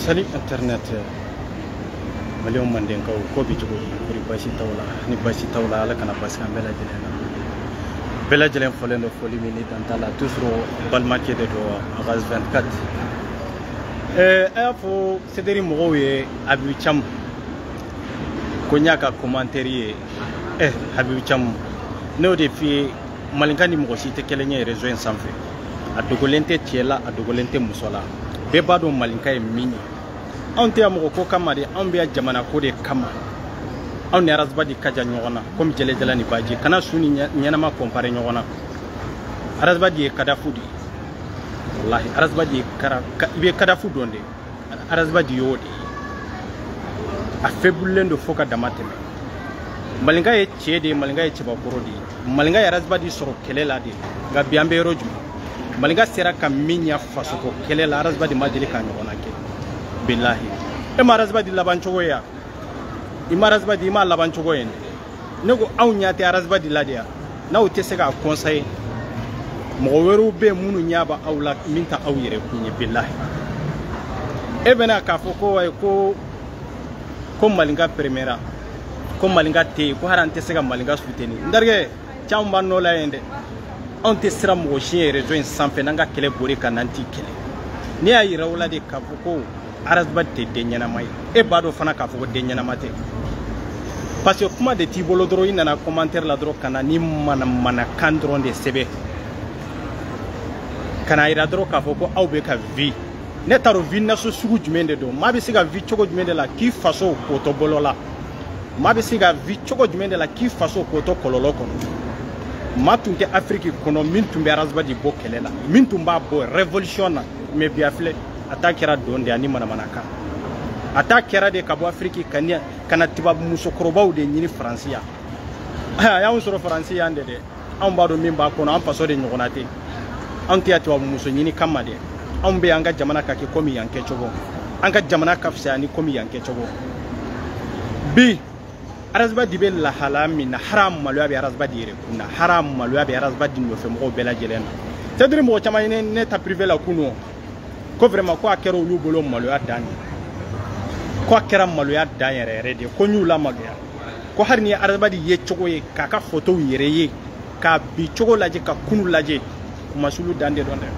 Salut Internet maliyɛnw mandenkaw ko bɛ cogo di kori basi t'aw la ni basi t'aw la ala kana basi k'an bɛɛ lajɛlen na bɛɛ lajɛlen folen don foli min ni dan t'a la toujours balimakɛ de don a ka 24 ɛɛ a y'a fɔ CDR mɔgɔw ye habibu camu ko n y'a ka commentaire ye ɛ eh, habibu camu ne y'o de f'i ye malinka ni mɔgɔ si tɛ kelen ye réseau in sanfɛ a dogolen tɛ cɛ la a dogolen tɛ muso la bɛɛ b'a dɔn malinka ye min ye anw tɛ yan mɔgɔ ko kama de anw bɛ yan jamana ko de kama anw ni arasibadi ka jan ɲɔgɔn na komi jɛlɛjala ni baji kana su ni ɲɛnama kɔnpare ɲɔgɔn na arasibadi ye cadavre de ye walahi arasibadi ye kara i bɛ cadavre dɔn de arasibadi y'o de ye a fɛbulilen don fo ka damatɛmɛ malinka ye cɛ de ye malinka ye cɛbakɔrɔ de ye malinka ye arasibadi sɔrɔ kɛlɛ la de nka bi an bɛ yɔrɔ jumɛn malinka sera ka min ɲa fasoko kɛlɛ la arasibadi ma deli k'a ɲɔgɔnna kɛ bilahi e ma arasibadi laban cogo ye ya i ma arasibadi i m'a laban cogo ye ne ko aw ɲa tɛ arasibadi la de ya n'aw tɛ se k'a conseiller mɔgɔ wɛrɛw bɛ minnu ɲa bɛ aw la min ta aw yɛrɛ kun ye bilahi e bɛna k'a fɔ ko wayi ko ko malinka peremera ko malinka tɛ yen ko hara an tɛ se ka malinka suteni n terikɛ caman b'an nɔ la yen dɛ anw tɛ siran mɔgɔ si ɲɛ réseau in sanfɛ n'an ka kɛlɛ bori ka n'an t'i kɛlɛ ne y'a yira o la de k'a fɔ ko arasba tɛ den ɲɛnama ye e b'a dɔn fana k'a fɔ ko den ɲɛnama tɛ parce que kuma de t'i bolo dɔrɔn i nana commentaire la dɔrɔn ka na ni manamanakan dɔrɔn de sɛbɛn ka n'a yira dɔrɔn k'a fɔ ko aw bɛ ka vi ne t'a dɔn vi naso sugu jumɛn de don maa bɛ se ka vi cogo jumɛn de la k'i faso ko to bɔlɔn la maa bɛ se ka vi cogo jumɛn de la k'i faso ko to kɔlɔlɔ kɔnɔ maa tun tɛ afiriki kɔnɔ min tun bɛ arazibadi bɔ kɛlɛ la min tun b'a bɔ révolution na mais bi a filɛ a ta kɛra dɔn de ani manamanakan a ta kɛra de ka bɔ afiriki ka na tubabu musokɔrɔbaw de ɲini faransi yan a y'anw sɔrɔ faransi yan de dɛ anw b'a dɔn min b'a kɔnɔ an faso de ɲɔgɔnna tɛ anw tɛ yan tubabu muso ɲini kama dɛ anw bɛ an ka jamana ka kɛ komi yan kɛcogo an ka jamana ka fisaya ni komi yan kɛcogo bi arazibadi bɛ lahala min na hara maloya bɛ arazibadi yɛrɛ kun na hara maloya bɛ arazibadi nɔfɛ mɔgɔw bɛɛ lajɛlen na c'est-à-dire mɔgɔ caman ye ne ta privé la kunun ko vraiment ko a kɛra olu bolo maloya dan de ko a kɛra maloya dan yɛrɛ yɛrɛ de ko n y'u lamaloya ko hali ni ye arazibadi ye cogo ye k'a ka fotow yɛrɛ ye k'a bi cogo lajɛ ka kunu lajɛ kunmasuli dan de dɔn dɛ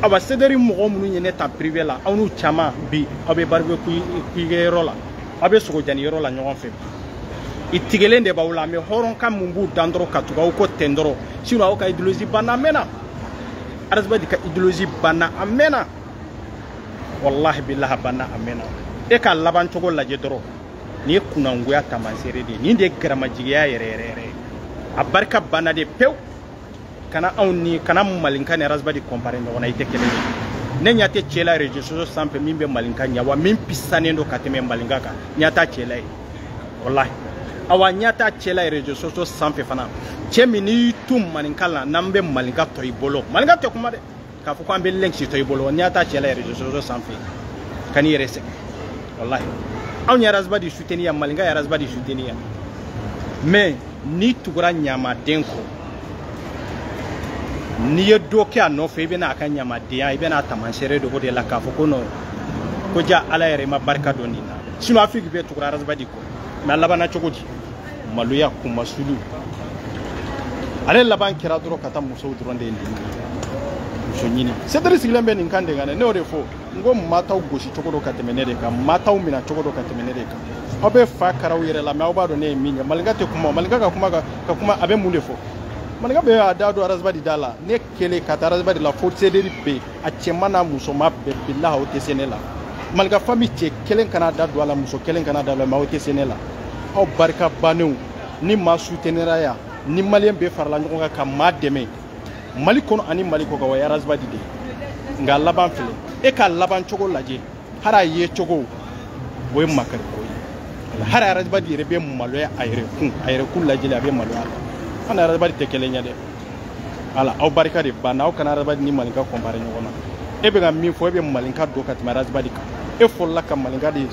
awa sederi mɔgɔ minnu ye ne ta prive la aw n'u caman bi aw bɛ baribekiyu yɔrɔ la aw bɛ sogojeni yɔrɔ la ɲɔgɔn fɛ i tigɛlen de b'aw la mɛ hɔrɔnkan min b'u dan dɔrɔn ka tugu aw kɔ ten dɔrɔn sinɔn aw ka ideyolozi banna a mɛnna arazibadi ka ideyolozi banna a mɛnna walahi bilahi banna a mɛnna e ka laban cogo lajɛ dɔrɔn nin ye kunnagoya tamansere de ye nin de ye garamajigiya yɛrɛ yɛrɛ yɛrɛ a barika banna de pewu kana aw kana malinka ni arasibadi kɔnpare ɲɔgɔn na i tɛ kelen ye ne ɲa tɛ cɛ la rezo soso sanfɛ min bɛ malinka ɲa awa min pisanen don ka tɛmɛ malinka kan ɲa t'a cɛ la ye walahi awa ɲa t'a cɛ la ye rezo soso sanfɛ fana cɛ min n'i y'i tu malinka la n'an bɛ malinka to i bolo malinka tɛ kuma dɛ k'a fɔ ko an bɛ link si to i bolo ɲa t'a cɛ la ye rezo soso sanfɛ kan'i yɛrɛ sɛgɛn walahi anw ye arasibadi suteni yan malinka ye arasibadi suteni yan mais n'i tugura ɲamaden kɔ n'i ye dɔ kɛ a nɔfɛ i bɛna a ka ɲamadenya i bɛna a tamansere dɔn de la k'a fɔ ko nɔn ko jaa ala yɛrɛ i ma barika don nin na sinon afiriki bɛɛ tugura arasibadi kɔ mais a labanna cogo di maloya kunmasuli ale laban kɛra dɔrɔn ka taa musow dɔrɔn de ye nin muso ɲini sederi sigilen bɛ nin kan de kan dɛ ne y'o de fɔ n ko maa t'aw gosi cogo dɔn ka tɛmɛ ne de kan maa t'aw mina cogo dɔn ka tɛmɛ ne de kan aw bɛ fa kar'aw yɛrɛ la mɛ aw b'a dɔn ne ye min ye malinka tɛ kuma malinka ka kuma a bɛ mun de fɔ malinka bɛ a da don arazibadi da la ne kelen ka ta arazibadi la fo sederi bɛɛ a cɛma n'a musoma bɛɛ bilahi aw tɛ se ne la malinka fami cɛ kelen kana da don a la muso kelen kana da don a la mɛ aw tɛ se ne la aw barika bannen ni maa sutenera yan ni maliyɛn bɛɛ farala ɲɔgɔn kan ka maa dɛmɛ mali kɔnɔ ani mali kɔ kan o ye arazibadi de ye nka laban filɛ e ka laban cogo lajɛ hali a ye cogo o ye makari ko ye hali arazibadi yɛrɛ bɛ maloya a yɛrɛ kun a yɛrɛ kun lajɛli a bɛ maloya a la an ni arazibadi tɛ kelen ye dɛ ala aw barika de banna aw kana arazibadi ni malinka kɔnpare ɲɔgɔn na e bɛ ka min fɔ e bɛ malinka dɔn ka tɛmɛ arazibadi kan e fɔlɔla ka malinka de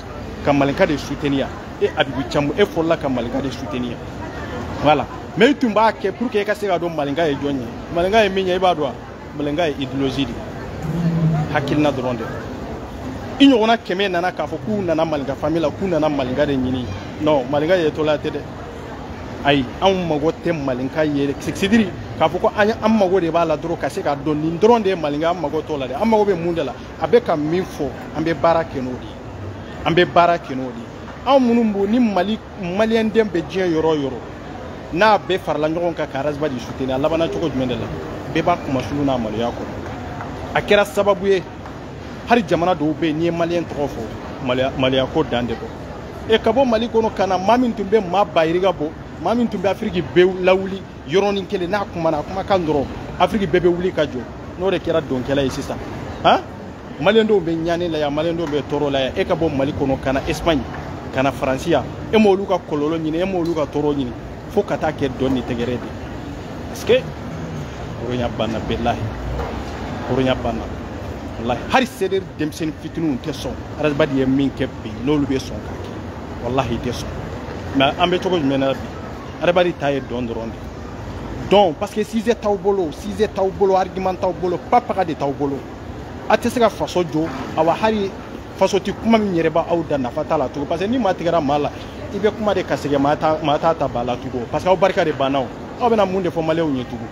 ka malinka de suteni yan e abibu camu e fɔlɔla ka malinka de suteni yan wala mɛ i tun b'a kɛ pour que e ka se ka dɔn malinka ye jɔn ye malinka ye min ye i b'a dɔn wa malinka ye idéologie de hakilina dɔrɔn de i ɲɔgɔnna kɛmɛ nana k'a fɔ k'u nana malinka famille la k'u nana malinka de ɲini non malinka ye tolaya tɛ dɛ ayi anw mago tɛ malinka ye sidiri k'a fɔ ko an ye an mago de b'a la dɔrɔn ka se k'a dɔn nin dɔrɔn de ye malinka an mago t'o la dɛ an mago bɛ mun de la a bɛ ka min fɔ an bɛ baara kɛ n'o de ye an bɛ baara kɛ n'o de ye anw minnu b'o ni mali maliyɛnden bɛ diɲɛ yɔrɔ o yɔrɔ n'a bɛɛ farala ɲɔgɔn kan ka arasibadi suteni a labanna cogo jumɛn de la bɛɛ b'a kunmasuli n'a maloya kɔnɔ a kɛra sababu ye hali jamana dɔw bɛ yen n'i ye maliyɛn tɔgɔ fɔ maloya ko dan de don e ka bɔ mali kɔnɔ ka na maa min tun bɛ maa ba yirika bɔ maa min tun bɛ afiriki bɛɛ lawuli yɔrɔnin kelen n'a kumana a kumakan dɔrɔn afiriki bɛɛ bɛ wuli ka jɔ n'o de kɛra dɔnkɛla ye sisan han maliyɛn dɔw bɛ ɲani la yan maliyɛn dɔw bɛ tɔɔrɔ la yan e ka bɔ mali kɔnɔ ka na espagne ka na faransi yan e m'olu ka kɔlɔlɔ ɲini e m'olu ka tɔɔrɔ ɲini fo ka taa kɛ dɔn ni tɛgɛrɛ de parce que hɔrɔnya banna bilahi hɔrɔnya banna wallahi hali sederi denmisɛnnin fitininw tɛ sɔn ras bath ye min kɛ bi n'olu bɛ sɔn k'a kɛ wallahi tɛ sɔn mais an bɛ cogo jumɛn na bi ras bath ta ye dɔn dɔrɔn de don parce que sujet t'aw bolo sujet t'aw bolo argument t'aw bolo propagande t'aw bolo a tɛ se ka faso jɔ awa hali faso ti kuma min yɛrɛ b'aw da nafa t'a la tugun parce que ni maa tigɛra maa la i bɛ kuma de ka sɛgɛn maa t'a ta ba la tugun parce que aw barika de banna o aw bɛna mun de fɔ maliyɛnw ye tugun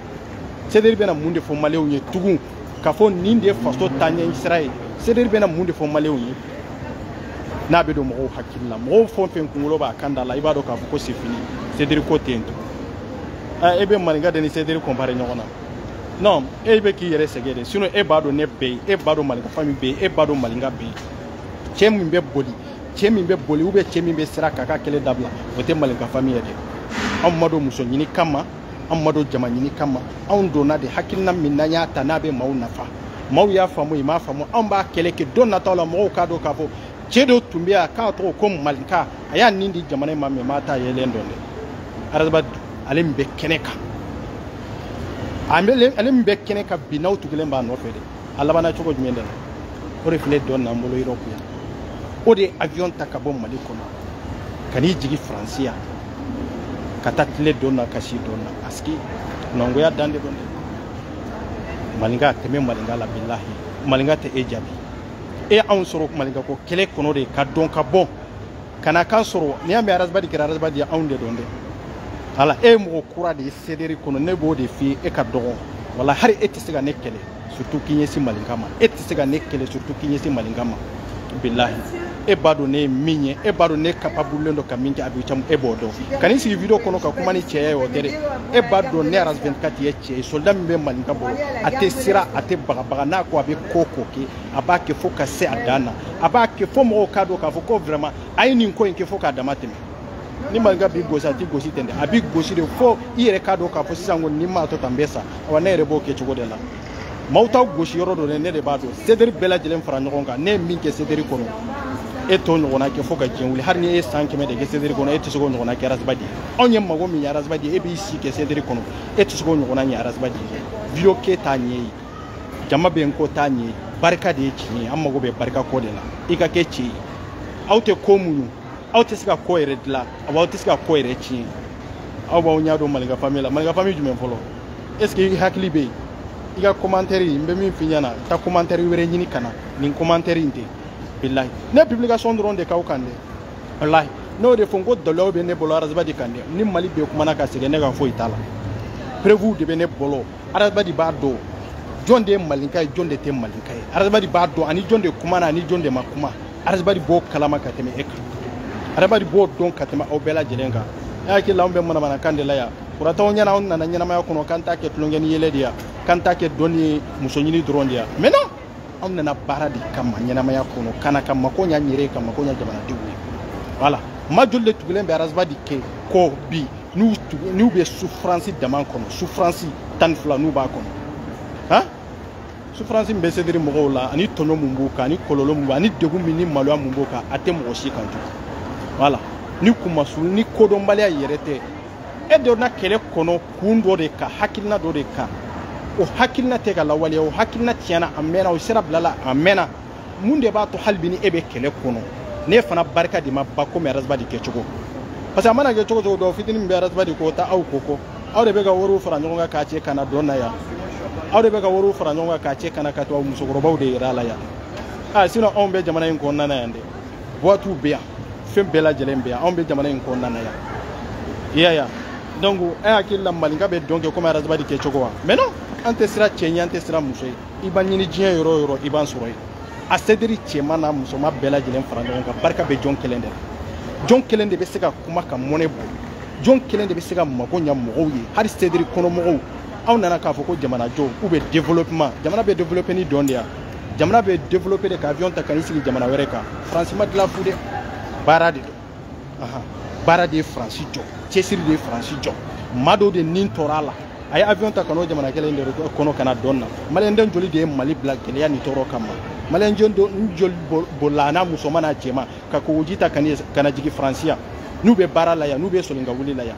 sederi bɛna mun de fɔ maliyɛnw ye tugun k'a fɔ nin de ye faso taaɲɛ sira ye sederi bɛna mun de fɔ maliyɛnw ye n'a bɛ don mɔgɔw hakili la mɔgɔw fɛn o fɛn kunkolo b'a kan da la i b'a dɔn k'a fɔ ko c'est fini sederi ko tɛ yen tugun e bɛ maninka de ni sederi kɔnpare ɲɔgɔn na non e bɛ k'i yɛrɛ sɛgɛn de sinon e b'a dɔn ne bɛ yen e b'a dɔn malinka famille bɛ yen e b'a dɔn malinka bɛ yen cɛ min bɛ boli cɛ min bɛ boli ou bien cɛ min bɛ siran k'a ka kɛlɛ dabila o tɛ malinka famille ye dɛ anw ma don muso ɲini kama anw ma don jama ɲini kama anw donna de hakilina min n'an y'a ta n'a bɛ maaw nafa maaw y'a faamu i m'a faamu anw b'a kɛlɛ kɛ don nataw la mɔgɔw k'a dɔn k'a fɔ cɛ dɔ tun bɛ yan k'a tɔgɔ ko malinka a y'a nin di jamana in ma mais maa t'a yɛrɛ dɔn dɛ ras bath ale min bɛ kɛnɛ kan ale min bɛ kɛnɛ kan bi n'aw tugulen b'a nɔfɛ dɛ a labanna cogo jumɛn de la o de filɛ dɔn n'an bolo europe yan o de ye avion ta ka bɔ mali kɔnɔ ka n'i jigin faransi yan ka taa tile dɔn na ka si dɔn na parce que kunnagoya dan de don dɛ maninka tɛmɛ maninka la bilahi maninka tɛ e jaabi e anw sɔrɔ mali ka ko kɛlɛ kɔnɔ de ka don ka bɔ ka na k'an sɔrɔ n'i y'a mɛn ras bath kɛra ras bath ye anw de don dɛ alors e ye mɔgɔ kura de ye sederi kɔnɔ ne b'o de f'i ye e ka dɔgɔn wallahi e tɛ se ka ne kɛlɛ surtout k'i ɲɛsin malinka ma e tɛ se ka ne kɛlɛ surtout k'i ɲɛsin malinka ma bilahi e b'a dɔn ne ye min ye e b'a dɔn ne capable don ka min kɛ abicamu e b'o dɔn ka n'i sigi video kɔnɔ ka kuma ni cɛya ye o tɛ dɛ e b'a dɔn ne aras 24 ye soldat min bɛ maninka bolo a tɛ siran a tɛ bagabaga n'a ko a bɛ ko ko kɛ a b'a kɛ fo ka se a dan na a b'a kɛ fo mɔgɔw k'a dɔn k'a fɔ ko vraiment a ye nin ko in kɛ fo k'a dama tɛmɛ ni maninka b'i gosi a t'i gosi ten dɛ a b'i gosi de fo i yɛrɛ k'a dɔn k'a fɔ sisan ko n'i m'a to tan n bɛ sa awa ne yɛrɛ b'o kɛ cogo de la maaw t'aw gosi yɔrɔ dɔn dɛ ne de b'a dɔn sederi bɛɛ lajɛlen fara ɲɔgɔn kan ne ye min kɛ sederi kɔnɔ e t'o ɲɔgɔnna kɛ fo ka diɲɛ wuli hali ni e ye san kɛmɛ de kɛ sederi kɔnɔ e tɛ se k'o ɲɔgɔnna kɛ ras bath ye anw ye mago min ɲɛ ras bath ye e b'i si kɛ sederi kɔnɔ e tɛ se k'o ɲɔgɔnna ɲɛ arazibadi video kɛ t'a ɲɛ ye jama bɛ n kɔ t'a ɲɛ ye barika de ye tiɲɛ ye an mago bɛ barika ko de la i ka kɛ cɛ ye aw tɛ ko muɲu aw tɛ se ka ko yɛrɛ dilan aw aw tɛ se ka ko yɛrɛ tiɲɛ aw b'aw ɲɛ don malinka fami la malinka fami jumɛn fɔlɔ est ce que i hakili bɛ yen i ka commentaire n bɛ min f'i ɲɛna taa commentaire wɛrɛ ɲini ka na nin commentaire in tɛ bilahi ne publication dɔrɔn de k'aw kan dɛ walahi n'o de fɔ n ko dɔlɔw bɛ ne bolo arazibadi kan dɛ ni mali bɛɛ kumana ka sɛgɛn ne ka foyi t'a la preuve de bɛ ne bolo arazibadi b'a dɔn jɔn de ye malinka ye jɔn de tɛ malinka ye arazibadi b'a dɔn ani jɔn de kumana ani jɔn de ma kuma arazibadi b'o kalama ka tɛmɛ e kan arazibadi b'o dɔn ka tɛmɛ aw bɛɛ lajɛlen kan e hakili la anw bɛ manamanakan de la yan kuratanw ɲɛna anw nana ɲɛnamaya kɔnɔ k'an ta kɛ tulonkɛ ni yɛlɛ de ya k'an ta kɛ dɔn ni muso ɲini dɔrɔn de ya mais non anw nana baara de kama ɲɛnamaya kɔnɔ ka na ka mako ɲa n yɛrɛ ye ka mako ɲa jamanadenw ye voilà maa joli de tugulen bɛ arazibadi kɛ kɔ bi n'u bɛ sufuransi dama kɔnɔ sufuransi tan ni fila n'u b'a kɔnɔ han sufuransi min bɛ sederi mɔgɔw la ani tɔɲɔ mun b'u kan ani kɔlɔlɔ mun b'u ani degun min ni maloya mun b'u kan a tɛ mɔgɔ si kan tugun voilà ni kunmasu ni kodɔnbaliya yɛrɛ tɛ e donna kɛlɛ kɔnɔ kun dɔ de kan hakilina dɔ de kan o hakilina tɛ ka lawaleya o hakilina tiɲɛna a mɛnna o sira bilala a mɛnna mun de b'a to hali bi ni e bɛ kɛlɛ kɔnɔ ne fana barika de ma ba komi arazibadi kɛcogo parce que a mana kɛ cogo cogo dɔ fitini min bɛ arazibadi ko taa aw ko kɔ aw de bɛ ka wariw fara ɲɔgɔn kan k'a cɛ ka na dɔn na yan aw de bɛ ka wariw fara ɲɔgɔn kan k'a cɛ ka na ka to aw musokɔrɔbaw de yɛrɛ a la yan a sinon anw bɛ jamana in kɔnɔna na yan dɛ boîte bɛ yan fɛn bɛɛ lajɛlen bɛ yan anw bɛ jamana in kɔnɔna na yan i y'a ye wa donc e hakili la malinka bɛ dɔn kɛ komi arazabadi kɛ cogo wa mais non an tɛ siran cɛ ɲɛ an tɛ siran muso ye i b'a ɲini diɲɛ yɔrɔ o yɔrɔ i b'an sɔrɔ yen a sederi cɛman n'a musoman bɛɛ lajɛlen fara ɲɔgɔn kan barika bɛ jɔn kelen de la jɔn kelen de bɛ se ka kuma ka mɔnɛ bɔ jɔn kelen de bɛ se ka mago ɲa mɔgɔw ye hali sederi kɔnɔmɔgɔw aw nana k'a fɔ ko jamanajɔ ou bien développement jamana bɛ développer ni dɔn de ya jamana bɛ développer de ka avion ta ka n'i sigi jamana wɛrɛ kan France ma dilan fu dɛ baara de don baara de ye France jɔ cɛsiri de ye France jɔ maa dɔw de nin tɔɔrɔ a la a ye avion ta ka n'o jamana kelen de kɔnɔ ka na dɔn na maliyɛnden joli de ye mali bila gɛlɛya ni tɔɔrɔ kama maliyɛnden joli bolila a n'a musoman n'a cɛman ka kogoji ta ka na jigin France yan n'u bɛ baara la yan n'u bɛ soli ka wuli la yan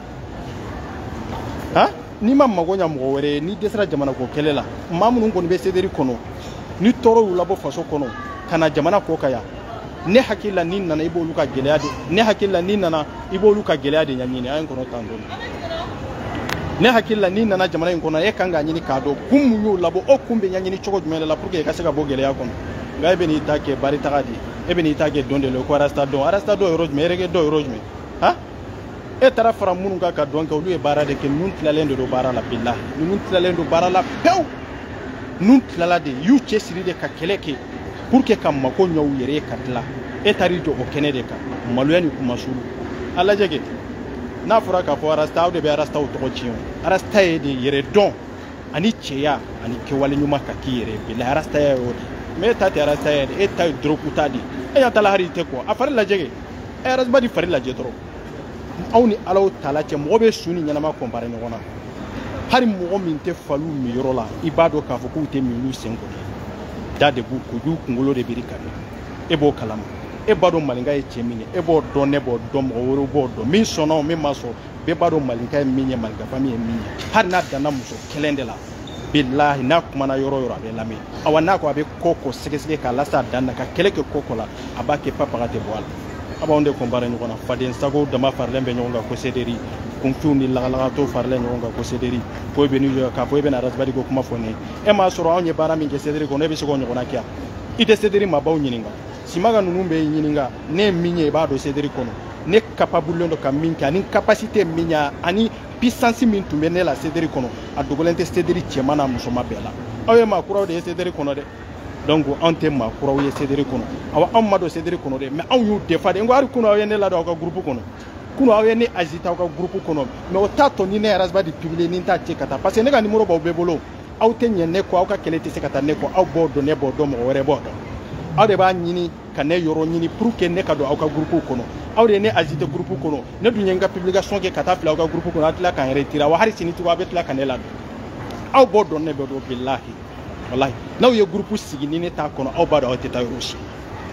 han n'i ma mago ɲa mɔgɔ wɛrɛ ye n'i dɛsɛra jamana ko kɛlɛ la maa minnu kɔni bɛ sederi kɔnɔ ni tɔɔrɔ y'u labɔ faso kɔnɔ ka na jamana kɔkan yan ne hakili la n'i nana i b'olu ka gɛlɛya de ne hakili la n'i nana i b'olu ka gɛlɛya de ɲɛɲini a ye n kɔnɔ tan dɔɔni ne hakili la n'i nana jamana in kɔnɔ e kan k'a ɲini k'a dɔn kun mun y'o labɔ o kun bɛ ɲɛɲini cogo jumɛn de la pour que i ka se ka bɔ gɛlɛya kɔnɔ nka e bɛ n'i ta kɛ baritaga de ye e bɛ n'i ta kɛ dɔn de la ko arasta dɔn arasta dɔn yɔrɔ jumɛn erege dɔn yɔrɔ jumɛn han e taara fara minnu kan ka dɔn kɛ olu ye baara de kɛ ninnu tilalen de don baara la bilahi ninnu tilalen don baara la pewu ninnu tilala de y'u cɛsiri de ka kɛlɛ kɛ pour que ka mako ɲɛ u yɛrɛ ye ka tila e taar'i jɔ o kɛnɛ de kan maloya ni kunmasuli a lajɛ kɛ n'a fɔra k'a fɔ arasta aw de bɛ arastaw tɔgɔ tiɲɛ o arasta ye de yɛrɛdɔn ani cɛya ani kɛwale ɲuman ka k'i yɛrɛ ye bilahi arastaya ye o de mais e ta tɛ arastaya ye dɛ e ta ye dɔrɔguta de ye e ɲɛ t'a la hali i tɛ ko a fari lajɛ kɛ arasibadi fari lajɛ dɔrɔn aw ni alahutala cɛ mɔgɔ bɛ su ni ɲɛnama kɔnpare ɲɔgɔn na hali mɔgɔ min tɛ faliw minyɔrɔ la i b'a dɔn k'a fɔ k'u tɛ min olu sen kɔnɔ da de b'u kojugu kunkolo de biri ka min e b'o kalama e b'a dɔn maninka ye cɛ min ye e b'o dɔn ne b'o dɔn mɔgɔ wɛrɛw b'o dɔn min sɔnna o min ma sɔn bɛɛ b'a dɔn malinka ye min ye malinka fami ye min ye hali n'a danna muso kelen de la bilahi n'a kumana yɔrɔ yɔrɔ a bɛ lamɛn awa n'a ko a bɛ ko ko sɛgɛsɛgɛ k'a lase a dan na ka kɛlɛ kɛ ko ko la a b'a kɛ papaga tɛ bɔ a la a b'anw de kɔnpare ɲɔgɔn na fadensago dama faralen bɛ ɲɔgɔn kan ko sederi kunfinw ni lagalagatɔw faralen ɲɔgɔn kan ko sederi ko i bɛ n'i jɔ k'a fɔ i bɛna arasibadi ko kuma fɔ ne ye e m'a sɔrɔ anw ye baara min kɛ sederi kɔnɔ e bɛ se k'o ɲɔgɔnna kɛ i tɛ sederi maabaw ɲininka simaga ninnu bɛɛ ɲininka ne ye min ye i b'a dɔn sederi kɔnɔ ne kapabulen don ka min kɛ ani capacité min y'a ani puissance min tun bɛ ne la sederi kɔnɔ a dogolen tɛ sederi cɛman n'a musoman bɛɛ la aw ye maa kuraw de ye sederi kɔnɔ dɛ donc anw tɛ maa kuraw ye sederi kɔnɔ awa anw ma don sederi kɔnɔ dɛ mais anw y'u défendre n ko hali kunu aw ye ne ladon aw ka gurupu kɔnɔ kunu aw ye ne ajouter aw ka gurupu kɔnɔ mais o t'a to ni ne ye arasibadi publier ni n t'a ci ka taa parce que ne ka nimoro b'aw bɛɛ bolo aw tɛ ɲɛ ne kɔ aw ka kɛlɛ tɛ se ka taa ne kɔ aw b'o dɔn ne b'o dɔn mɔgɔ wɛrɛ b'o dɔn aw de b'a ɲini ka ne yɔrɔ ɲini pour que ne ka don aw ka gurupuw kɔnɔ aw de ye ne ajouter gurupu kɔnɔ ne dun ye n ka publication kɛ ka taa fili aw ka gurupu kɔnɔ aw tila ka n retirer wa hali sini tugun aw bɛ tila ka ne ladon aw b'o dɔn ne b'o dɔn bilahi walahi n'aw ye gurupu sigi ni ne t'a kɔnɔ aw b'a dɔn aw tɛ taa yɔrɔ si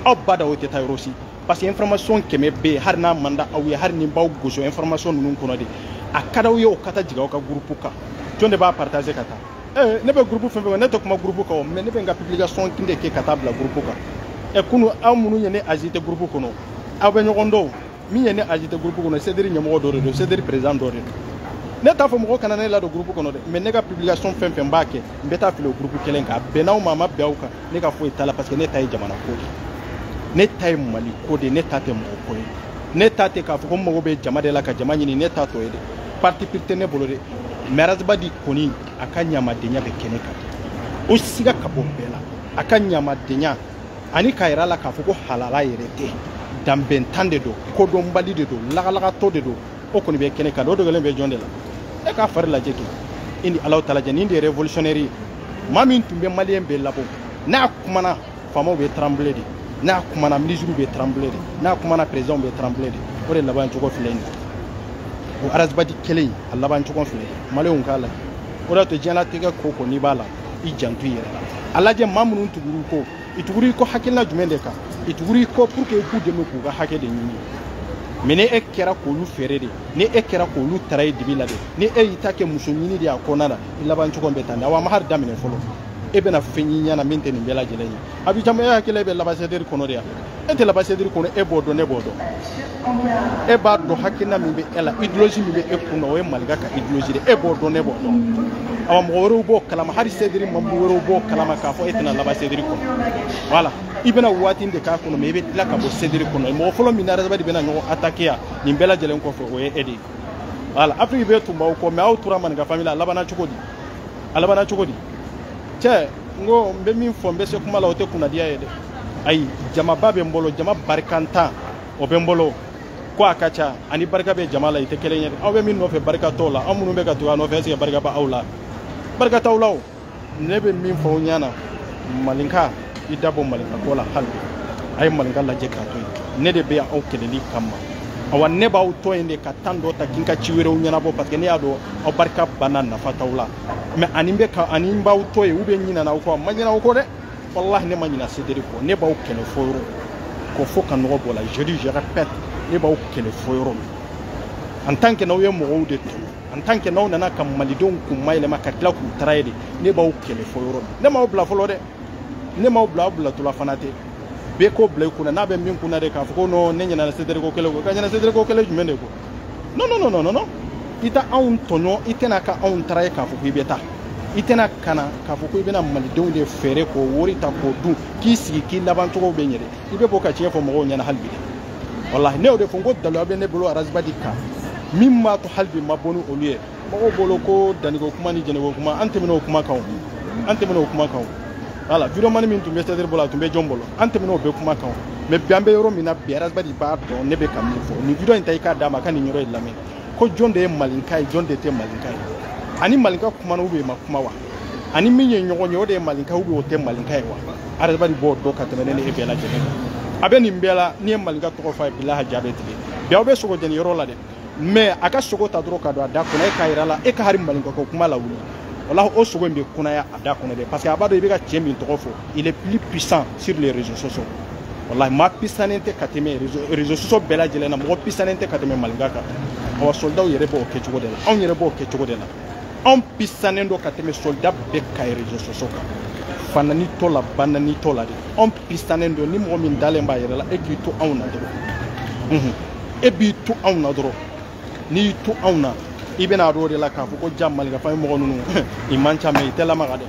aw b'a dɔn aw tɛ taa yɔrɔ si parce que information kɛmɛ bɛ yen hali n'a man di aw ye hali n'i b'aw gosi information ninnu kɔnɔ de a ka d'aw ye o ka taa jigin aw ka gurupu kan jɔn de b'a partager ka taa eh, ne bɛ gurupu fɛn fɛn ne tɛ kuma gurupu kan mais ne bɛ n ka publication de kɛ ka taa bila gurupu kan ɛ eh, kunu aw minnu ye ne ajouter gurupu kɔnɔ aw bɛ ɲɔgɔn dɔn min ye ne ajouter gurupu kɔnɔ sederi ɲɛmɔgɔ dɔ de don sederi président dɔ de don ne t'a fɔ mɔgɔ kana ne ladon gurupu kɔnɔ dɛ mais ne ka publication fɛn fɛn b'a kɛ n bɛ taa fili o gurupu kelen kan a bɛnna aw ma a ma bɛn aw kan ne ka foyi t'a la parce que ne ta ye jamana ko de ne ta ye mali ko de ne ta tɛ mɔgɔ ko ye ne ta tɛ k'a fɔ ko n mago bɛ jama de la ka jama ɲini ne ta t'o ye dɛ parti pris tɛ ne bolo dɛ mais arasibadi kɔni a ka ɲamadenya bɛ kɛnɛ kan o siga ka bɔ bɛɛ la a ka ɲamadenya ani k'a yira la k'a fɔ ko halala yɛrɛ tɛ danbentan de don kodɔnbali de don lagalagatɔ de don o kɔni bɛ kɛnɛ kan o dogolen bɛ jɔn de la e k'a fari lajɛ kɛ i ni alahutala cɛ nin de ye révolutionnaire ye maa min tun bɛ maliyɛn bɛɛ labɔ n'a kumana faamaw bɛ tranble de n'a kumana minisiriw bɛ tranble de n'a kumana perezidɛnw bɛ tranble de o de laban cogo filɛ nin ye o arasibati kelen in a laban cogo filɛ maliyɛnw k'a lajɛ o de y'a to diɲɛlatigɛ ko o ko n'i b'a la i janto i yɛrɛ la a lajɛ maa minnu tugur'i kɔ u tugur'i kɔ hakilina jumɛn de kan u tugur'i kɔ pour que i k'u dɛmɛ k'u ka hakɛ de ɲini mɛ ni e kɛra k'olu feere de ni e kɛra k'olu trahi dibi la de ni e y'i ta kɛ muso ɲini de y'a kɔnɔna na laban cogo bɛ tan de awa a ma hali daminɛ fɔlɔ e bɛna fɛn ye i ɲɛ na min tɛ nin bɛɛ lajɛlen ye a bɛ caman e hakili bɛ laban sediri kɔnɔ de yan e tɛ laban sediri kɔnɔ e b'o dɔn ne b'o dɔn e b'a dɔn hakilina min bɛ e la idolozi min bɛ e kun na o ye malika ka idolozi de e b'o dɔn ne b'o dɔn awa mɔgɔ wɛrɛw b'o kalama hali sediri mɔgɔ wɛrɛw b'o kalama k'a fɔ e tɛna laban sediri kɔnɔ voilà i bɛna waati de k'a kɔnɔ mɛ i bɛ tila ka bɔ sediri kɔnɔ mɔgɔ fɔlɔ min n'arasibati bɛna ɲɔgɔn atake yan nin bɛɛ lajɛlen kɔfɛ o ye e de ye voilà afiriki bɛɛ tun b'aw kɔ mɛ aw tora malinka fami la a labanna cogo di a labanna cogo di cɛ n ko n bɛ min fɔ n bɛ se kuma la o tɛ kunnadiya ye dɛ ayi jamaba bɛ n bolo jama barikantan o bɛ n bolo ko a ka ca ani barika bɛ jama la i tɛ kelen ye dɛ aw bɛ min nɔfɛ barika t'o la aw minnu bɛ ka tugu a nɔfɛ ɛseke barika bɛ aw la barika t'aw la o ne bɛ min fɔ aw ɲɛna malinka i dabɔ malinka ko la hali bi a ye malinka lajɛ k'a to yen ne de bɛ yan aw kɛlɛli kama awa ne b'aw to yen de ka tan dɔ ta ka n ka ci wɛrɛw ɲɛnabɔ parce que ne y'a dɔn aw barika banna nafa t'aw la mɛ ani bɛ ka ani n b'aw to yen u bɛ ɲinana aw kɔ n ma ɲinɛ aw kɔ dɛ walahi ne ma ɲinɛ sederi kɔ ne b'aw kɛlɛ fo yɔrɔ ko fo ka nɔgɔ bɔ la je dis je répète ne b'aw kɛlɛ fo yɔrɔ min en tant que n'aw ye mɔgɔw de tɔɲɔ en tant que n'aw nana ka malidenw kun mayɛlɛma ka tila k'u trahi de ne b'aw kɛlɛ fo yɔrɔ min ne m'aw bila fɔlɔ dɛ ne m'aw bila aw bilatɔla fana tɛ bɛɛ k'o bila i kun na n'a bɛ min kun na de k'a fɔ ko non ne ɲinɛna sederi ko kɛlɛ kɔ ka ɲinɛ sederi ko kɛlɛ jumɛn de kɔ non non non non non i tɛ anw tɔɲɔ i tɛna ka anw trahi k'a fɔ ko i bɛ taa i tɛna ka na k'a fɔ ko i bɛna malidenw de feere k'o wari ta k'o dun k'i sigi k'i laban cogo bɛ ɲɛ dɛ i bɛ bɔ ka tiɲɛ fɔ mɔgɔw ɲɛna hali bi dɛ walahi ne y'o de fɔ n ko dalilu bɛ ne bolo arasibati kan min b'a to hali bi ma bɔ ni olu ye mɔgɔw bolo ko danniko kuma ni jɛnɛko kuma an tɛmɛn'o kuma kan o an tɛmɛn'o kuma kan o wala wideyo mani min tun bɛ sederi bolo a tun bɛ jɔn bolo an tɛmɛn'o bɛɛ kuma kan o mɛ bi an bɛ yɔrɔ min na bi arasibati b'a dɔn ne bɛ ka min fɔ nin wideyo in ta i k'a d'a ma a ka nin yɔrɔ in lamɛn ko jɔn de ye malinka ye jɔn de tɛ malinka ye ani malinka kumana u bɛ ma kuma wa ani min ye ɲɔgɔn ye o de ye malinka ubiyɛn o tɛ malinka ye wa arasibati b'o dɔn ka tɛmɛ ne ni e bɛɛ lajɛlen kan a bɛ nin bɛɛ la n'i ye malinka tɔgɔ fɔ a ye bilahi a ja bɛ tigɛ bi a bɛ sogo jeni yɔrɔ la dɛ mɛ a ka sogo ta dɔrɔn ka don a da kɔnɔ e k'a yira a la e ka hali malinka ko kuma lawuli walahi o sogo in bɛ kunaya a da kɔnɔ dɛ parce que a b'a dɔn i bɛ ka cɛ min tɔgɔ fɔ il est plus puissant sur les réseaux sociaux walahi maa puissant tɛ ka tɛmɛ réseaux sociaux bɛɛ lajɛlen na mɔgɔ puissant tɛ ka tɛmɛ malinka kan awa soldaw yɛrɛ b'o kɛ cogo de la anw yɛrɛ b'o kɛ cogo de la anw pisanen don ka tɛmɛ soldat bɛɛ kan réseaux sociaux kan fanɛnitɔ la banɛnitɔ la de anw pisanen don ni mɔgɔ min dalen b'a yɛrɛ la e k'i to anw na dɔrɔn e b'i to anw na dɔrɔn n'i y'i to anw na i bɛna dɔn de la k'a fɔ ko ja malikafan ye mɔgɔ ninnu i man ca mais i tɛ lamaga dɛ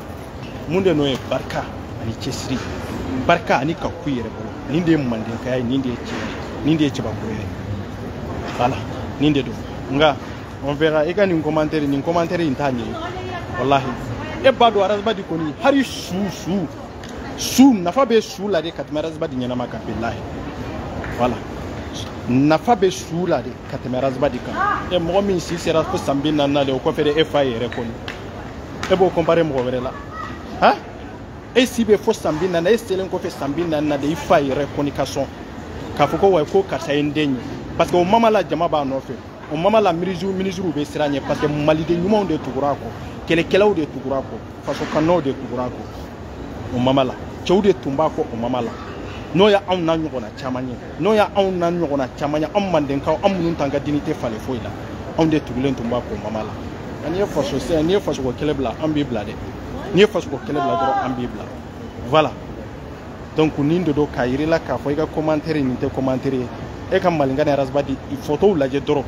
mun de nɔ ye barika ani cɛsiri barika ani ka ku i yɛrɛ bolo nin de ye mandenkaya ye nin de ye cɛbakɔrɔya ye voilà nin de don nka on verra i ka nin commentaire nin commentaire in t'a ɲɛ wallahi e b'a dɔn ras bath kɔni hali su su su nafa bɛ su la de ka tɛmɛ ras bath ɲɛnama kan bilahi voilà nafa bɛ su la de ka tɛmɛ ras bath kan e mɔgɔ min si sera fo san bi naani na de o kɔfɛ de e fa yɛrɛ kɔni e b'o comparer mɔgɔ wɛrɛ la han e si bɛ fo san bi naani e selen kɔfɛ san bi naani na de i fa yɛrɛ kɔni ka sɔn k'a fɔ ko wa ko karisa ye n den ye parce que o moment la jama b'a nɔfɛ o moment la minisiriw bɛ siran a ɲɛ parce que maliden ɲumanw de tugura a kɔ kɛlɛkɛlaw de tugura a kɔ fasokanunaw de tugura a kɔ o moment la cɛw de tun b'a kɔ o moment la n'o ye anw n'an ɲɔgɔnna caman ye n'o ye anw n'an ɲɔgɔnna caman ye anw mandenkaw an minnu t'an ka dignité falen foyi la anw de tugulen tun b'a kɔ o moment la n'i ye faso sɛ n'i ye fasoko kɛlɛ bila an b'i bila dɛ n'i ye fasoko kɛlɛ bila dɔrɔn an b'i bila voilà donc nin de don k'a yira i la k'a fɔ i ka commentaire nin tɛ commentaire ye e ka malinka ni ras bath i photow lajɛ dɔrɔn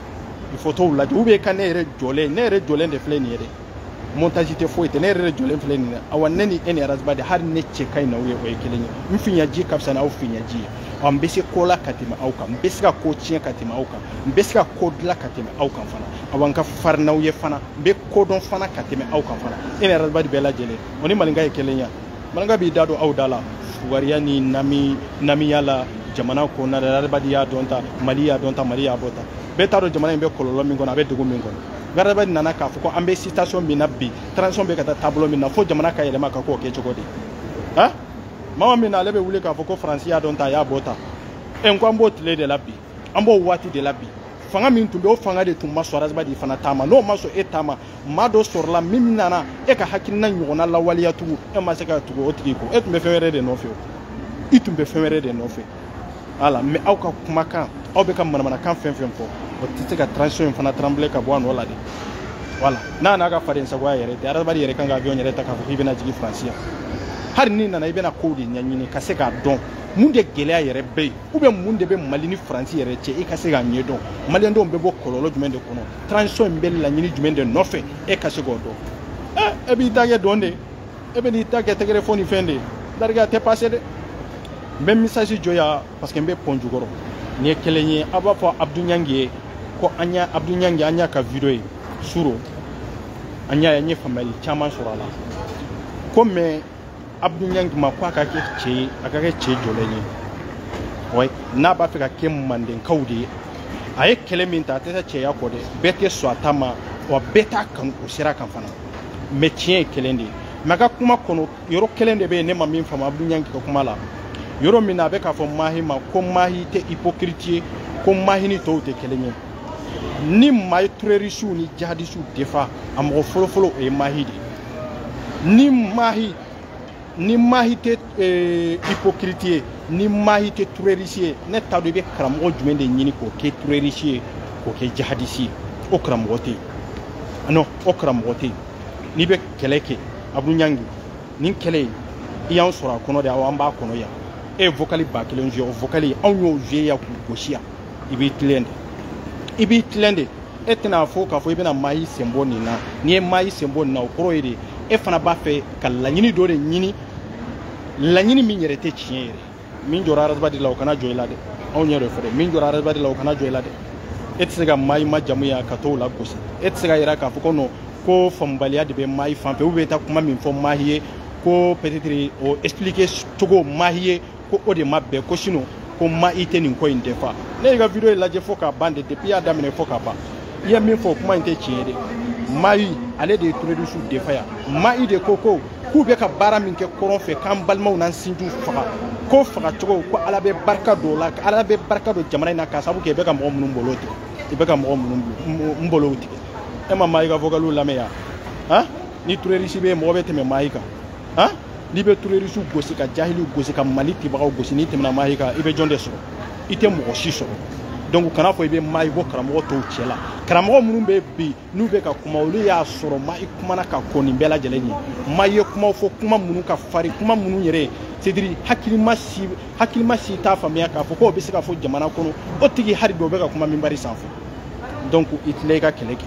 i photow lajɛ ou bien i ka ne yɛrɛ jɔlen ne yɛrɛ jɔlen de filɛ nin ye dɛ montage tɛ foyi tɛ ne yɛrɛ de jɔlen filɛ nin ye awa ne ni e ni ras bath hali ne cɛ ka ɲi n'aw ye o ye kelen ye n visage ka fisa n'aw visage ye ɔ n bɛ se ko la ka tɛmɛ aw kan n bɛ se ka ko tiɲɛ ka tɛmɛ aw kan n bɛ se ka ko dilan ka tɛmɛ aw kan fana awa n ka farin n'aw ye fana n bɛ ko dɔn fana ka tɛmɛ aw kan fana e ni ras bath bɛɛ lajɛlen o ni malinka ye kelen ye malinka b'i da don aw da la fugariya ni namiya la jamana kɔnɔna ras bath y'a donta mali y'a donta mali y'a bɔta bɛɛ t'a dɔn jamana in bɛ kɔlɔlɔ min kɔnɔ a bɛ degun min kɔnɔ nka ras bath nana k'a fɔ ko an bɛ situation min na bi transition bɛ ka taa taabolo min na fo jamana ka yɛlɛma ka k'o kɛ cogo di han moment min na ale bɛ wuli k'a fɔ ko faransi y'a donta a y'a bɔta ɛ n ko an b'o tile de la bi an b'o waati de la bi fanga min tun bɛ o fanga de tun ma sɔn ras bath fana taama n'o ma sɔn e taama maa dɔ sɔrɔla min nana e ka hakilina ɲɔgɔnna lawaleya tugun e ma se ka tugu o tigi kɔ e tun bɛ fɛn wɛrɛ de nɔfɛ o i tun bɛ fɛn wɛrɛ de nɔfɛ voilà mais aw ka kumakan aw bɛ ka manamanakan fɛn o fɛn fɔ o tɛ se ka transition in fana trembler ka bɔ a nɔ la dɛ voilà n'a n'a ka faden sagoya yɛrɛ tɛ ras bath yɛrɛ kan ka avion yɛrɛ ta k'a fɔ k'i bɛna jigin faransi yan hali n'i nana i bɛna kow de ɲɛɲini ka se k'a dɔn mun de gɛlɛya yɛrɛ bɛ yen ou bien mun de bɛ mali ni faransi yɛrɛ cɛ e ka se k'a ɲɛdɔn maliyɛndenw bɛ bɔ kɔlɔlɔ jumɛn de kɔnɔ transition in bɛ laɲini jumɛn de nɔfɛ e ka se k'o dɔn ɛ e b'i ta kɛ dɔn de e bɛn'i ta kɛ tɛgɛrɛ fɔ ni fɛn de lariga tɛ passé dɛ n bɛ message jɔ yan parce que n bɛ pɔn jukɔrɔ nin ye kelen ye a b'a fɔ abdu ɲangi ye ko an y'a abdu ɲangi an y'a ka video ye suro an y'a ye n ye faamuyali caman sɔrɔ a la ko mais abudu ɲangi ma ko a ka kɛ cɛ ye a ka kɛ cɛ jɔlen ye ouais n'a b'a fɛ ka kɛ mandenkaw de ye a ye kɛlɛ min ta a tɛ taa cɛya kɔ dɛ bɛɛ tɛ sɔn a ta ma wa bɛɛ t'a kanu o sira kan fana mais tiɲɛ ye kelen de ye mais a ka kuma kɔnɔ yɔrɔ kelen de bɛ yen ne ma min faamu abudu ɲangi ka kuma la yɔrɔ min na a bɛ k'a fɔ mahi ma ko mahi tɛ hypocrite ye ko mahi ni tɔw tɛ kelen ye ni maa ye turerisiw ni jihadisiw defa a mɔgɔ fɔlɔfɔlɔ o ye mahi de ni mahi ni mahi tɛ eh, hypocrite ye ni mahi tɛ turerisi ye ne t'a dɔn i bɛ karamɔgɔ jumɛn de ɲini k'o kɛ turerisi ye k'o kɛ jihadisi ye o karamɔgɔ tɛ yen non o karamɔgɔ tɛ yen n'i bɛ kɛlɛ kɛ abudu ɲangi nin kɛlɛ in i y'an sɔrɔ a kɔnɔ de awɔ an b'a kɔnɔ yan e ye vocali ba kelen joué o vocali anw y'o joué yan k'o gosi yan i b'i tilen de i b'i tilen de e tɛna fɔ k'a fɔ i bɛna mahi sen bɔ nin na n'i ye mahi sen bɔ nin na o kɔrɔ ye de e fana b'a fɛ ka laɲini dɔ de ɲini laɲini min yɛrɛ tɛ tiɲɛ yɛrɛ min jɔra arasibadi la o kana jɔ i la dɛ anw ɲɛ dɔ fɛ dɛ min jɔra arasibadi la o kana jɔ i la dɛ e tɛ se ka mahi majamu yan ka tɔw lagosi e tɛ se ka yira k'a fɔ ko non ko faamubaliya de bɛ mahi fan fɛ u bɛ taa kuma min fɔ mahi ye ko peut-être o expliquer cogo mahi ye ko o de ma bɛn ko sinon ko mahi tɛ nin ko in defa ne y'i ka video in lajɛ fo k'a ban de depuis y'a daminɛ fo k'a ban i ye min fɔ kuma in tɛ tiɲɛ dɛ mahi ale de ye turerisiw defa yan mahi de ko ko k'u bɛ ka baara min kɛ kɔrɔn fɛ k'an balimaw n'an sinjiw faga ko fagacogo ko ala bɛ barika don o la ala bɛ barika don jamana in na k'a sababu kɛ i bɛ ka mɔgɔ minnu bolo tigɛ i bɛ ka mɔgɔ minnu bolow tigɛ e ma mahi ka vocaliw lamɛn yan han ni turerisi bɛ yen mɔgɔ bɛ tɛmɛ mahi kan han n'i bɛ terorisiw gosi ka jahiliw gosi ka mali tibagaw gosi n'i tɛmɛna mahi kan i bɛ jɔn de sɔrɔ i tɛ mɔgɔ si sɔrɔ donc kana fɔ i bɛ mahi bɔ karamɔgɔ tɔw cɛ la karamɔgɔ minnu bɛ bi n'u bɛ ka kuma olu y'a sɔrɔ mahi kumana ka kɔn nin bɛɛ lajɛlen ɲɛ mahi ye kumaw fɔ kuma minnu ka farin kuma minnu yɛrɛ c'est-à-dire hakilima si hakilima si t'a faamuya k'a fɔ k'o bɛ se ka fɔ jamana kɔnɔ o tigi hari dɔ bɛ ka kuma minbari sanfɛ donc i tila i ka kɛlɛ kɛ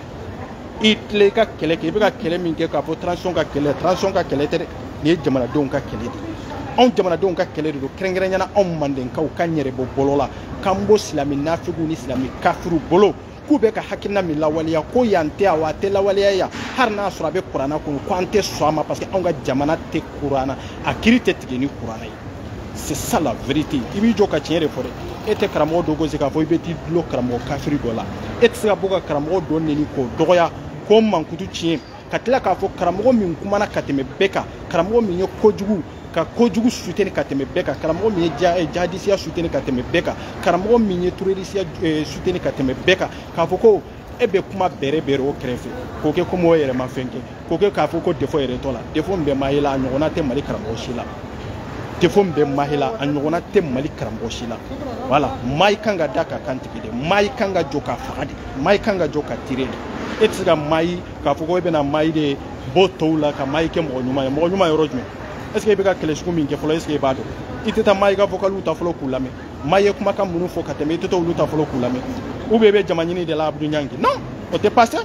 i tilen i ka kɛlɛ kɛ i bɛ ka kɛlɛ min kɛ k'a fɔ transition ka kɛlɛ transition ka kɛlɛ tɛ dɛ nin ye jamanadenw ka kɛlɛ de ye anw jamanadenw ka kɛlɛ de don kɛrɛnkɛrɛnya na anw mandenkaw k'an yɛrɛ bɔ bolo la k'an bɔ silami nafigiw ni silami kafiriw bolo k'u bɛ ka hakilina min lawaleya ko yan tɛ awa a tɛ lawaleya yan hali n'a sɔrɔ a bɛ kurana kɔnɔ ko an tɛ sɔn a ma parce que anw ka jamana tɛ kurana a kiri tɛ tigɛ ni kurana ye c'est ça la vérité i b'i jɔ ka tiɲɛ de fɔ dɛ e tɛ karamɔgɔ dɔ gosi k'a fɔ i bɛ t'i dulon karamɔgɔ kafiri dɔ la e tɛ se ka bɔ ka karamɔgɔ dɔ neni k'o dɔgɔya k'o mankutu tiɲɛ ka tila k'a fɔ karamɔgɔ min kumana ka tɛmɛ bɛɛ kan karamɔgɔ min ye kojugu ka kojugu suteni ka tɛmɛ bɛɛ kan karamɔgɔ min ye eh, jihadisiya suteni ka tɛmɛ bɛɛ kan karamɔgɔ min ye terorisiya eh, suteni ka tɛmɛ bɛɛ kan k'a fɔ ko e bɛ kuma bɛrɛ bɛrɛ o kɛrɛfɛ k'o kɛ komi o yɛrɛ ma fɛn kɛ k'o kɛ k'a fɔ ko defo yɛrɛ t'o la defo min bɛ mahi la a ɲɔgɔnna tɛ mali karamɔgɔ si la defo min bɛ mahi la a ɲɔgɔnna tɛ mali karamɔgɔ si la voilà mahi kan ka da k'a kan tigɛ de mahi kan ka jɔ k'a faga de mahi kan ka jɔ k'a tire de e tɛ se ka mahi k'a fɔ ko e bɛna mahi de bɔ tɔw la ka mahi kɛ mɔgɔ ɲuman ye mɔgɔ ɲuman yɔrɔ jumɛn est ce que e bɛ ka kɛlɛ sugu min kɛ fɔlɔ est ce que e b'a dɔn i tɛ taa mahi ka vocaliw ta fɔlɔ k'u lamɛn mahi ye kumakan minnu fɔ ka tɛmɛ i tɛ taa olu ta fɔlɔ k'u lamɛn ou bien i bɛ jama ɲini de la abudu ɲangi non o tɛ passé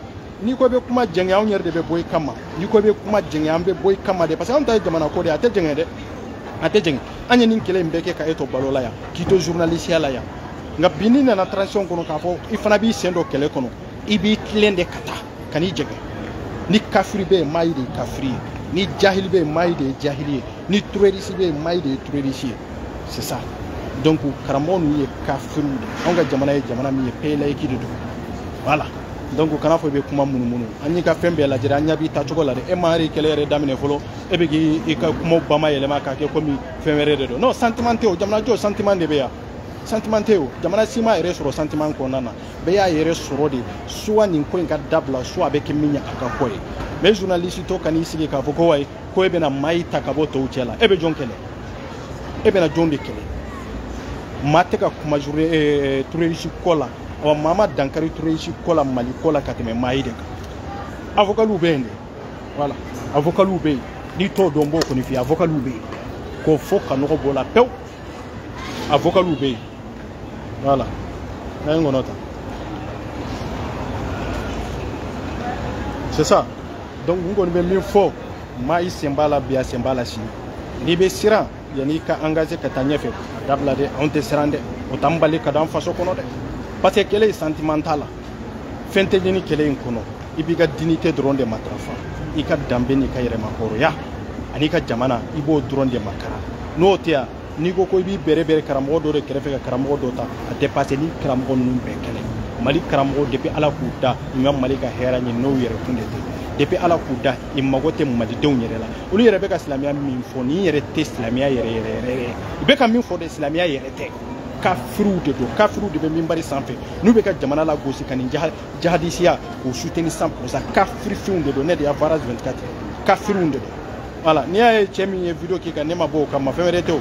n'i ko i bɛ kuma jɛngɛ anw yɛrɛ de bɛ bɔ i kama n'i ko i bɛ kuma jɛngɛ an bɛ bɔ i kama de parce que anw ta ye jamana ko de ye a tɛ jɛngɛ dɛ a tɛ jɛngɛ an ye nin kɛlɛ in bɛɛ kɛ ka e to balo la yan k'i to journalisiya la yan nka bi n'i nana transition kɔnɔ k'a fɔ i fana b'i sen don kɛlɛ kɔnɔ i b'i tilen de ka taa kan'i jɛngɛ ni kafiri bɛ yen mahi de ye kafiri ye ni jahili bɛ yen mahi de ye jahili ye ni terroriste bɛ yen mahi de ye terroriste ye c'est ça donc karamɔgɔ ninnu ye kafiriw de ye anw ka jamana ye jamana min ye pays laïque de don voilà donc kana fɔ i bɛ kuma munumunu an y'i ka fɛn bɛɛ lajɛ an ɲɛ b'i taacogo la dɛ e ma yɛrɛ kɛlɛ yɛrɛ daminɛ fɔlɔ e bɛ k'i ka kumaw bamayɛlɛma k'a kɛ komi fɛn wɛrɛ de don non sentiment tɛ o jamanajɔ sentiment de bɛ yan sentiment tɛ o jamana si m'a yɛrɛ sɔrɔ sentiment kɔnɔna na bɛɛ y'a yɛrɛ sɔrɔ de soit nin ko in ka dabila soit a bɛ kɛ min ye a ka k'o ye mais journaliste dɔ kan'i sigi k'a fɔ ko wayi ko e bɛna mahi ta ka bɔ tɔw cɛ la e bɛ jɔn kɛlɛ e bɛna jɔn de kɛlɛ maa tɛ ka kuma eh, terroriste ko la wa maa ma dankari terroriste ko la mali ko la ka tɛmɛ mahi de kan a vocaliw bɛ yen de voilà a vocaliw bɛ yen n'i t'o dɔn n b'o kɔni f'i ye a vocaliw bɛ yen k'o fɔ ka nɔgɔ b'o la pewu a vocaliw bɛ yen voilà n'a ye ŋɔnɔ ta c'est ça donc n kɔni bɛ min fɔ mahi sen b'a la bi a sen b'a la sini n'i bɛ siran yanni i ka engagé ka taa ɲɛfɛ a dabila dɛ anw tɛ siran dɛ o t'an bali ka d'an faso kɔnɔ dɛ parce que kɛlɛ in sentiment t'a la fɛn tɛ ɲini kɛlɛ in kɔnɔ i b'i ka dignité dɔrɔn de matarafa i ka danbe n'i ka yɛrɛmahɔrɔnya an'i ka jamana i b'o dɔrɔn de makara n'o tɛ yan n'i ko ko i b'i bɛrɛ bɛrɛ karamɔgɔ dɔ de kɛrɛfɛ ka karamɔgɔ dɔ ta a tɛ pase ni karamɔgɔ ninnu bɛɛ kɛlɛ mali karamɔgɔ depi ala k'u da u ma mali ka hɛrɛ ɲini n'u yɛrɛ kun de tɛ depi ala k'u da u mago tɛ malidenw yɛrɛ la olu yɛrɛ bɛ ka silamɛya min fɔ nin yɛrɛ tɛ silamɛya yɛrɛ ye u bɛ ka min fɔ de silamɛya yɛrɛ tɛ kafiriw de don kafiriw de bɛ minbari sanfɛ n'u bɛ ka jamana lagosi ka nin jaha jihadisiya k'o soutenir cent pour cent kafirifinw de don média france 24 kafiriw de don voilà n'i y'a ye cɛ min ye video k'i kan ne ma bɔ o kama fɛn wɛrɛ tɛ o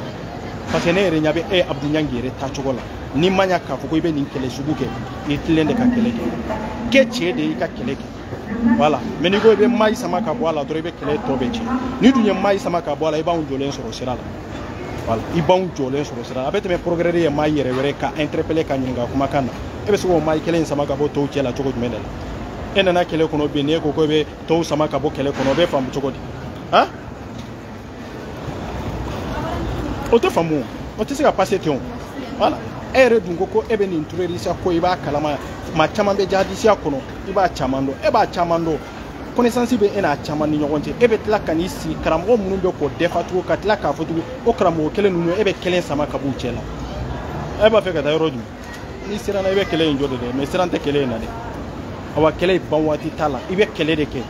parce que ne yɛrɛ ɲa bɛ e abdu ɲangi yɛrɛ tacogo la n'i ma ɲa k'a fɔ ko i bɛ nin kɛlɛ sugu kɛ i tilen de ka kɛlɛ kɛ kɛ cɛ de y'i ka kɛlɛ kɛ voilà mais n'i ko i bɛ mayi sama ka bɔ a la dɔrɔn i bɛ kɛlɛ tɔ bɛɛ tiɲɛ n'i dun ye mayi sama ka bɔ a la i b'anw jɔlen sɔrɔ sira la i b'anw jɔlen sɔrɔ sira la a bɛ tɛmɛ procureur ye mayi yɛrɛ wele k'a interpeller k'a ɲininka kumakan na e bɛ se k'o mayi kelen sama ka bɔ tɔw cɛ la cogo jumɛn de la e nana kɛlɛ kɔnɔ bi n'e ko ko e bɛ tɔw sama ka bɔ kɛlɛ kɔnɔ o bɛ faamu cogo di han o tɛ faamu o tɛ se ka passer ten o voilà e yɛrɛ dun ko ko e bɛ nin tɛrɔrisiya ko i b'a kalama maa caman bɛ jihadisiya kɔnɔ i b'a caman dɔn e b'a caman dɔn connaissance bɛ e n'a caman ni ɲɔgɔn cɛ e bɛ tila ka n'i sigi karamɔgɔ minnu bɛ k'o défendre tugun ka tila k'a fɔ tugun o karamɔgɔ kelen ninnu e bɛ kelen sama ka b'u cɛ la e b'a fɛ ka taa yɔrɔ jumɛn n'i siranna i bɛ kɛlɛ in jɔ de dɛ mais siran tɛ kɛlɛ in na dɛ awa kɛlɛ in ban waati t'a la i bɛ kɛlɛ de kɛ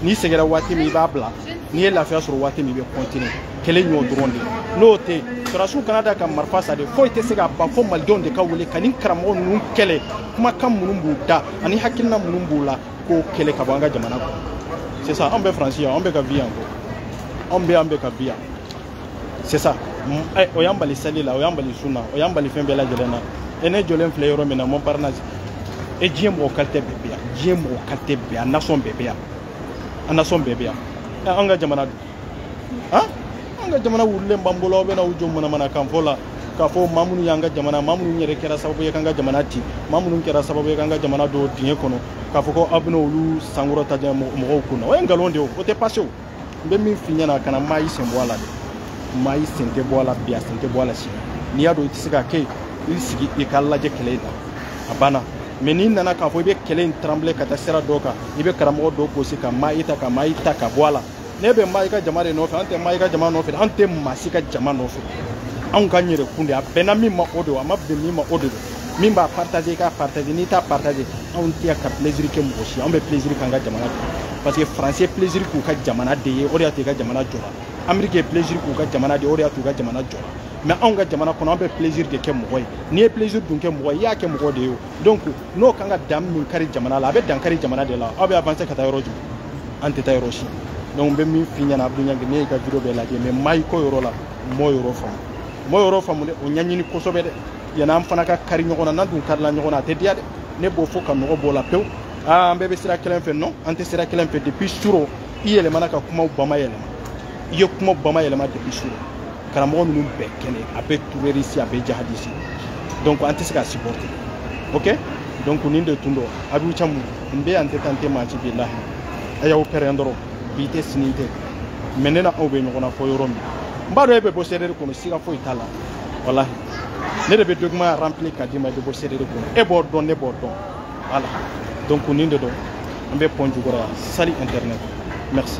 n'i sɛgɛnna waati min i b'a bila n'i ye lafiya sɔrɔ waati min i bɛ continuer kɛlɛ in y'o dɔrɔn de ye n'o tɛ sɔrɔdasiw kana da ka marifa sa de foyi tɛ se ka ban fo malidenw de ka wuli ka nin karamɔgɔ ninnu kɛlɛ kumakan minnu b'u da ani hakilina minnu b'u la k'o kɛlɛ ka bɔ an ka jamana kɔnɔ c'est ça anw bɛ faransi yan anw bɛ ka vi yan ko anw bɛ yan bɛ ka vi yan c'est ça eh, o y'an bali sali la o y'an bali sun na o y'an bali fɛn bɛɛ lajɛlen na e ne jɔlen filɛ yɔrɔ min na montparnasse e diɲɛ mɔgɔ qualité bɛɛ bɛ yan diɲɛ mɔgɔ qualité bɛɛ yan nation bɛɛ bɛ yan a nation bɛɛ bɛ yan an ka jamana don an ka jamana wulilen b'an bolo aw bɛ n'aw jɔ manamanakan fɔ la k'a fɔ maa minnu y'an ka jamana maa minnu yɛrɛ kɛra sababu ye k'an ka jamana ci maa minnu kɛra sababu ye k'an ka jamana don dingɛ kɔnɔ k'a fɔ ko aw bɛna olu sankɔrɔta diɲɛ mɔgɔw kun na o ye nkalon de ye o tɛ passer o n bɛ min f'i ɲɛna kana mayi sen bɔ a la dɛ mayi sen tɛ bɔ a la bi a sen tɛ bɔ a la sini n'i y'a dɔn i tɛ se ka kɛ yen i sigi i ka lajɛ kɛlɛ in na a banna mais n'i nana k'a fɔ i bɛ kɛlɛ in taranbile ka taa sira dɔ kan i bɛ karamɔgɔ dɔ gosi ka mayi ta ka mayi ta ka bɔ a la ne bɛ mayi ka jama de nɔfɛ an tɛ mayi ka jama nɔfɛ an tɛ maa si ka jama nɔfɛ anw k'an yɛrɛ kun de a bɛnna min ma o de a ma bɛn min ma o de don min b'a partager i k'a partager n'i t'a partager anw tɛ ka plaisir kɛ mɔgɔ si anw bɛ plaisir k'an ka jamana kɛ parce que france ye plaisir k'u ka jamana de ye o de y'a to u ka jamana jɔra amérique ye plaisir k'u ka jamana de ye o de y'a to u ka jamana jɔra mais anw ka jamana kɔnɔ an bɛ plaisir de kɛ mɔgɔ ye n'i ye plaisir dun kɛ mɔgɔ ye i y'a kɛ mɔgɔ de ye o donc n'o kan ka dan min kari jamana la a bɛ dan kari jamana de la aw bɛ avancer ka taa yɔrɔ jumɛn an tɛ taa yɔrɔ si donc n bɛ min f'i ɲɛna abdu ɲangi ne y'i ka video bɛɛ lajɛ mais mayi ko yɔrɔ la n m'o yɔrɔ faamu n m'o yɔrɔ faamu dɛ o ɲɛɲini kosɛbɛ dɛ yanni an fana ka kari ɲɔgɔn na n'an dun karila ɲɔgɔn na a tɛ diya dɛ ne b'o fɔ ka nɔgɔ b'o la pewu aa an bɛɛ bɛ sira kelen fɛ non an tɛ sira kelen fɛ depuis surɔ i yɛlɛmana ka kumaw bamayɛlɛma i ye kuma bamayɛlɛma depuis surɔ karamɔgɔ ninnu bɛɛ kɛnɛ a bɛɛ terroriste a bɛɛ jihadiste donc an tɛ se ka supporter ok donc nin de tun don abibu camu n bɛ yan n tɛ taa n tɛ maa ci bilahi a y'aw pɛrɛn dɔrɔn bi tɛ sini tɛ mais ne n'aw bɛ ɲɔgɔn na fɔ yɔrɔ min n b'a dɔn e bɛ bɔ CDR kɔnɔ siga foyi t'a la walahi ne de bɛ document rempli ka d'i ma i bɛ bɔ CDR kɔnɔ e b'o dɔn ne b'o dɔn voilà donc nin de don an bɛ pɔn jukɔrɔ yan sali internet merci